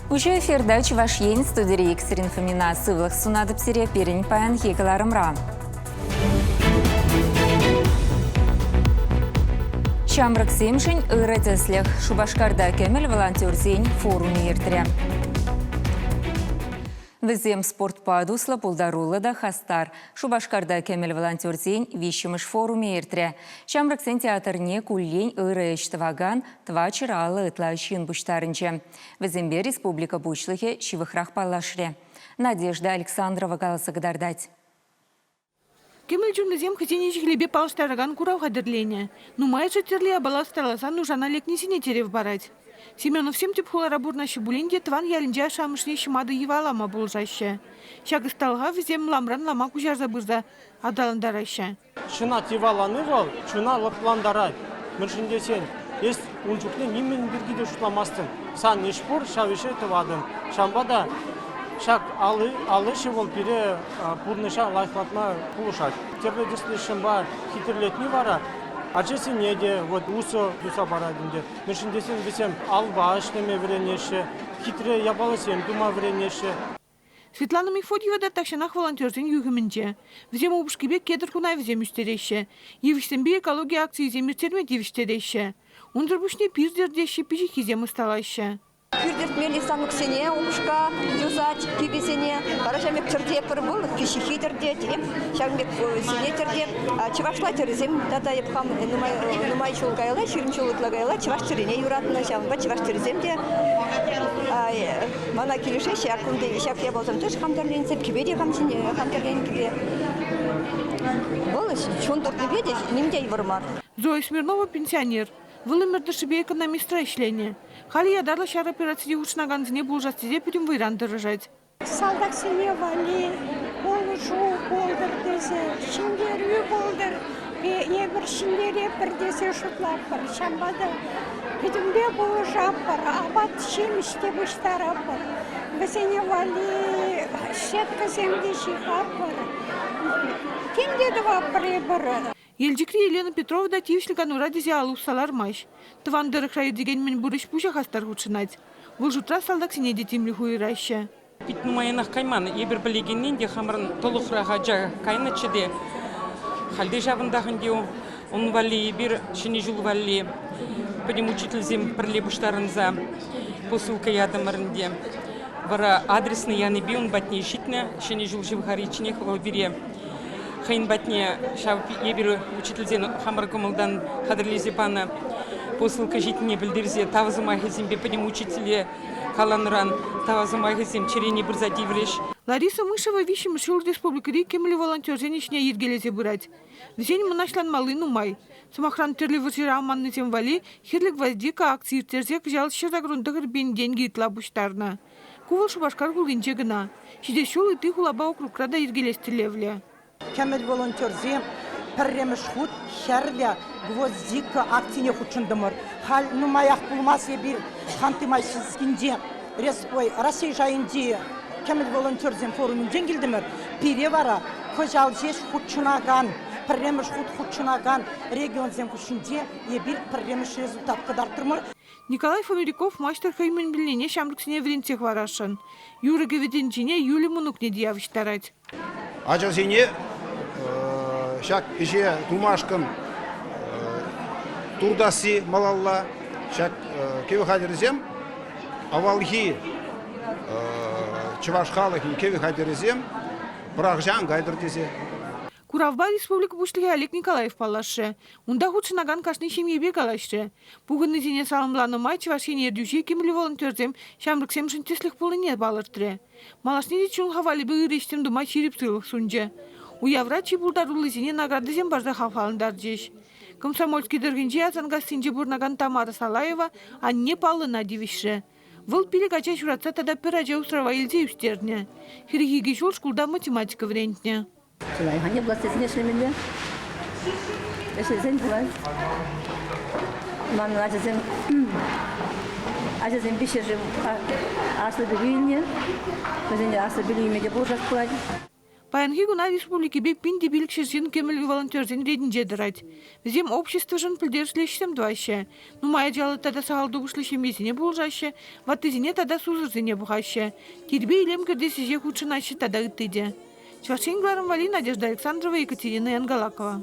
Пуҫу эфирта Чӑваш Ен студири иксӗрин фомина сывлӑх сунатӑп сире пирӗн паянхи кӑларӑмра. Ҫамрӑксемшӗн ырӑ тӗслӗх Шупашкарта кӗмӗл волонтерсен форумӗ иртрӗ. Вӗсем спортпа туслӑ, пултаруллӑ та хастар. Шупашкарта кӗмӗл волонтерсен виҫҫӗмӗш форумӗ иртрӗ. Ҫамрӑксен театрне куллен ырӑ ӗҫ тӑвакан тӑва чӑраллӑ ытла ҫын пуҫтарӑнчӗ. Вӗсемпе республика Пуҫлӑхӗ ҫывӑхрах паллашрӗ. Надежда Александрова каласа кӑтартать. Кӗмӗл чунлисем хӑйсене ҫӗклепе паллаштаракан курав хатӗрленӗ. Нумайӑшӗ тӗрлӗ япала ӑсталасан нушана лекнисене тӗрев парать. Семеновсем тӗп хулара пурӑнаҫҫӗ пулин те тӑван ялӗнче ашшӗ-амӑшне ҫӑматӑ йӑвалама пулӑшаҫҫӗ. Ҫак ӑсталӑха вӗсем ламран лама куҫарса пырса аталантараҫҫӗ. Ҫынат йӑвалани вӑл чуна лӑплантарать. Мӗншӗн тесен эс ун чухне нимӗн пирки те шутламастӑн. Сан ӗҫ пур, ҫав ӗҫе тӑватӑн. Ҫавӑнпа та ҫак ал ӗҫӗ вӑл пире пурнӑҫа лайӑхлатма пулӑшать. Тӗрлӗ тӗслӗ ҫынпа хитре вара ачасене те вот усӑ туса парать ӗнтӗ. Мӗншӗн тесен вӗсем алпа ӗҫлеме вӗренеҫҫӗ, хитре япаласем тума вӗренеҫҫӗ. Светлана Мефодьева та тахҫанах волонтерсен юхӑмӗнче. Вӗсем упӑшкипе кедр хунавӗсем ӳстереҫҫӗ, йывӑҫсемпе экологи акцийӗсем ирттерме тивӗҫтереҫҫӗ. Унсӑр пуҫне пир тӗртеҫҫӗ, пиҫиххисем ӑсталаҫҫӗ. Пир тӗртмелли станоксене упӑшка юсать, кӳпесене. Вара ҫавӑн пек тӗрте пӗр выльӑх пиҫиххи тӗртет, ҫавӑн пек сине тӗртет. Чӑвашла тӗрӗсем тата хам нумай нумай ҫул каялла, ҫирӗм ҫул ытла каялла чӑваш тӗрине юратнӑ. Ҫавӑнпа чӑваш тӗрисем те Мана килӗшеҫҫӗ, ак кунти ҫак япалсем тӗш хам тӗрленсе, кӗпе те хам ҫине хам тӗрленӗ кӗпе. Вӑл чун туртнипе те ним те йывӑр мар. Зоя Смирнова пенсионер. Вӑл ӗмӗр тӑршшӗпе экономистра ӗҫленӗ. Халӗ ятарлӑ ҫар операцине хутшӑнакансене пулӑшас тесе пӗтӗм вӑйран тӑрӑшать. Салтаксене валли пулӑшу пултӑр тесе, ҫӗнтерӳ пултӑр, Эпир ҫӗнтеретпӗр тесе шутлатпӑр. Ҫавӑнпа та пӗтӗмпе пулӑшатпӑр, апат-ҫимӗҫ те пуҫтаратпӑр. Вӗсене валли щеткӑсем те ҫыхатпӑр. Тем те тӑватпӑр эпир. Елчӗкри Елена Петрова та тивӗҫлӗ канура тесе ал усса лармасть. Тӑван тӑрӑхра иртекен мӗн пур ӗҫ пуҫа хастар хутшӑнать. Вӑл шутра салтаксене те тимлӗх уйӑраҫҫӗ. Пит нумаянах кайман. Эпир пӗлекеннин те хамӑрӑн тӑлӑхрах ача кайнӑччӗ те. Халь те ҫавӑнтах ӗнтӗ ун валли эпир Ҫӗнӗ ҫул валли пӗтӗм учительсем пӗрле пуҫтарӑнса посылка ятӑмӑр ӗнтӗ. Вара адресно янипе ун патне ҫитнӗ Ҫӗнӗ ҫул ҫывхаричченех вӑл пире хӑйӗн патне ҫав эпир учительсен хамӑр кӑмӑлтан хатӗрлесе панӑ посылка ҫитнине пӗлтерсе тав сӑмахӗсемпе пӗтӗм учителе Каланӑран, тава сӑмахӗсем чӗрене пырса тиврӗҫ. Лариса Мышева виҫҫӗмӗш ҫул республикӑри кимлӗ волонтерсен ӗҫне йӗркелесе пырать. Вӗсен мӑнаҫланмалли нумай. Сӑмахран, тӗрлӗ вӑрҫӑра аманнисем валли «Хирлӗ гвоздика» акци ирттерсе кӑҫал ҫӗр ҫакрун тӑхӑр пин тенкӗ ытла пуҫтарнӑ. Ку вӑл Шупашкар хулинче кӑна. Ҫитес ҫул ытти хулапа округра та йӗркелес тӗллевлӗ. Кӗмӗл волонтерсем пӗрремӗш хут Хӗрлӗ гвоздика акцине хутшӑнтӑмӑр. Халь нумаях пулмасть эпир Ханты-Мансийскинче Ой, Раҫҫей шайӗнчи кӗмӗл волонтерсен форумӗнчен килтӗмӗр. Пире вара кӑҫал ҫеҫ хутшӑнакан, пӗрремӗш хут хутшӑнакан регионсем хушшинче эпир пӗрремӗш результат кӑтартрӑмӑр. Николай Фомиряков маҫтӑр хӑй мӗн вилнине ҫамрӑксене вӗрентсе хӑварасшӑн. Юрӑ-кӗвӗ тӗнчине Юлия мӑнукне те явӑҫтарать. Ачасене ҫак ӗҫе тумашкӑн туртасси малалла. Ҫак кӗвӗ хатӗрӗсем авалхи чӑваш халӑхӗн кӗвӗ хатӗрӗсем пӑрахҫан кайтӑр тесе. Куравпа республика Пуҫлӑхӗ Олег Николаев паллашрӗ. Унта хутшӑнакан кашни ҫемьепе калаҫрӗ. Пухӑннисене саламланӑ май Чӑваш Ен ертӳҫи кимӗллӗ волонтерсем ҫамрӑксемшӗн тӗслӗх пулнине палӑртрӗ. Малашне те чун хавалӗпе ырӑ ӗҫсем тума ҫирӗп сывлӑх сунчӗ. Уявра чи пултаруллисене наградӑсем парса хавхалантарчӗҫ. Комсомольски тӑрӑхӗнчи Асанкассинче пурӑнакан Тамара Салаева анне паллӑна тивӗҫрӗ. Вӑл пилӗк ача ҫуратса тата пӗр ача усрава илсе ӳстернӗ. Хӗрӗх икӗ ҫул шкулта математика вӗрентнӗ. Чи лайӑх анне пулас тесен ӗҫлемелле. Ӗҫлесен пулать. Манӑн ачасем ачасем виҫҫӗшӗ аслӑ пӗлӳ илнӗ. Вӗсене аслӑ пӗлӳ илме те пулӑшас пулать. Паянхи куна республикипе пин те пилӗк ҫӗршыв кӗмӗл волонтерсен ретӗнче тӑрать. Вӗсем обществӑшӑн пӗлтерӗшлӗ ӗҫсем тӑваҫҫӗ. Нумай ачаллӑ тата сахал тупӑшлӑ ҫемьесене пулӑшаҫҫӗ, ваттисене тата сусӑрсене пухаҫҫӗ. Тирпей-илем кӗртес ӗҫе хутшӑнаҫҫӗ тата ытти те. Чӑваш Ен кӑларӑм валли Надежда Александрова, Екатерина Янгалакова.